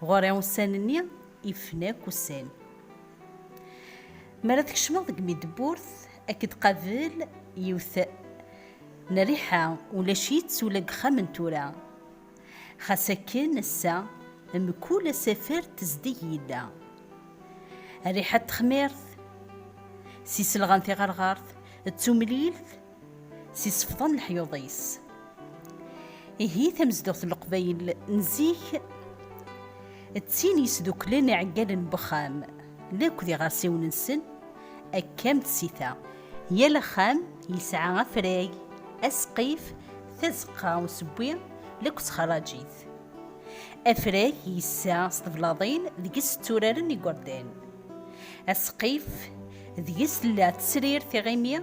Ɣur-i ussan-nni ifen akk ussan. Mi ara tkecmeḍ deg Midburt, ad k-id-qabel yiwet n rriḥa ulac-itt ula deg ixxam n tura. Xas akken ass-a mkul asafar tezdeg yella. Rriḥa n texmirt, s iselɣan tiɣerɣert d tumlilt, s isefḍa n leḥyuḍ-is. Ihi tamezduɣt n leqbayel n zik d tin yesduklen iɛeggalen n wexxam akk d iɣersiwen-nsen akka am tsita. Yal axxam yesɛa afrag, asqif, tazeqqa n usewwi akk d txerrajit. Afrag yessa s teblaḍin deg-s tturaren igerdan. Asqif, deg-s tella tesrir tiɣimi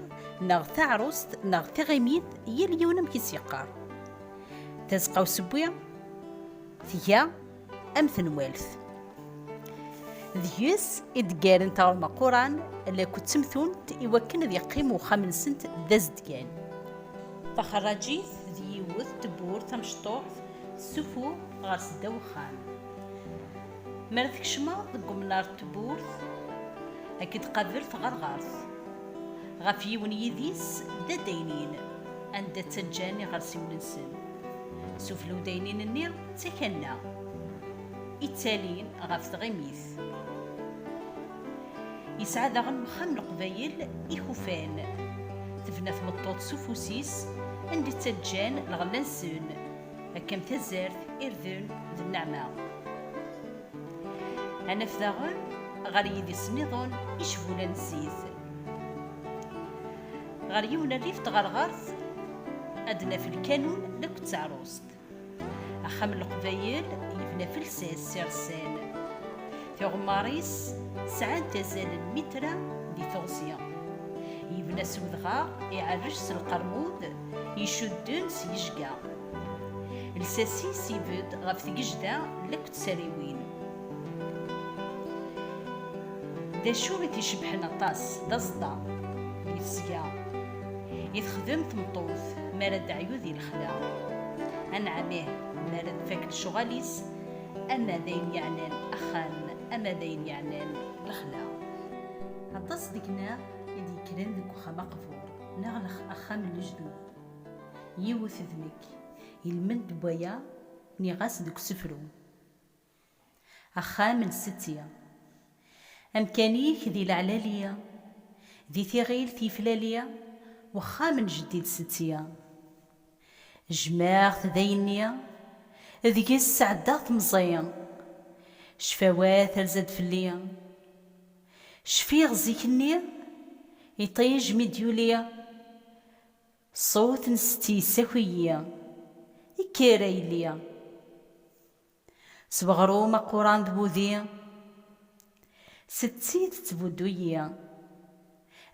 neɣ taɛrust neɣ tiɣimit yal yiwen amek i s-yeqqar. Tazeqqa usewwi tga am tenwalt. Deg-s i d-ggaren taɣelma quran lakku d temtunt i wakken ad yeqqim uxxam-nsent d azedgan. Taxerrajit d yiwet tewwurt tamecṭuḥt tessuffuɣ ɣer seddaw uxxam. Mi ara tkecmeḍ deg umnar n tewwurt, ad k-id-tqabel tɣerɣert. Ɣef yiwen yidis d addaynin, anda ttaǧǧan iɣersiwen-nsen. Sufella uddaynin-nni d takanna i ttalin ɣef tɣimit. Yesɛa daɣen wexxam n Leqbayel ikufan. Tebna tmeṭṭut s ufus-is, anda ttaǧǧan lɣella-nsen. Akka am tazart, irden d nneɛma. Ad naf daɣen ɣer yidis nniḍen icbulan n zzit. Ɣer yiwen n rrif tɣerɣert ad naf lkanun d akked teɛrust. Axxam n Leqbayel yebna f lsas si Ressel. Tiɣemmar-is sɛant azal n mitra di teɣzi. Yebna s wedɣaɣ iɛerrec s lqermud. icudden s yejga. Lsas-is ibedd ɣef tgejda n akk tsariwin. D acu i t-icebḥen aṭas, d aẓeṭṭa di tesga i texdem tmeṭṭut mi ara d-teɛyu di lexla. Anɛam ih, mi ara tfak lecɣal-is, ama d ayen yeɛnan axxam, ama d ayen yeɛnan lexla. Aṭas deg-neɣ i d-yekkren deg uxxam aqbur. Neɣ axxam n lejdud. Yiwet d nekk. Ilmend n waya nniɣ-as deg usefru. Axxam n setti. Amkan-ik di leɛlali. Di tiɣilt yeflali. Wexxam n jeddi d setti. Jjmeɣ-t dayenni. Deg-s sɛeddaɣ temẓi. Cfawat terza-d fell-i. Cfiɣ zik-nni, iṭij mi d-yuli, ṣṣut n setti yessaki-yi, Kker, a yelli! S weɣrum aquran d wudi, setti tettbuddu-yi,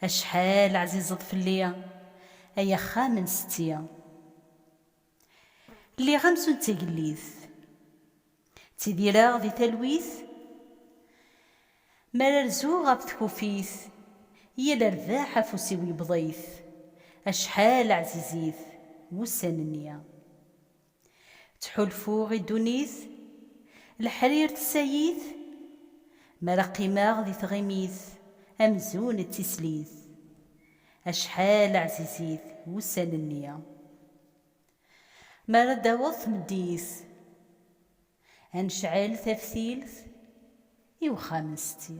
Acḥal ɛzizeḍ fell-i, ay axxam n setti! Lliɣ amzun d tagellidt. Ttidireɣ di talwit. Mi ara rzuɣ ɣef tkufit. Yal rrbeḥ afus-iw yebḍ-it. Acḥal ɛzizit wussan-nni. Ttḥulfuɣ i ddunit. Leḥrir tessay-it. Mi ara qqimeɣ di tɣimit. Amzun d tislit. Acḥal ɛzizit wussan-nni. Mi ara d-taweḍ tmeddit. Ad necɛel taftilt i wexxam n setti.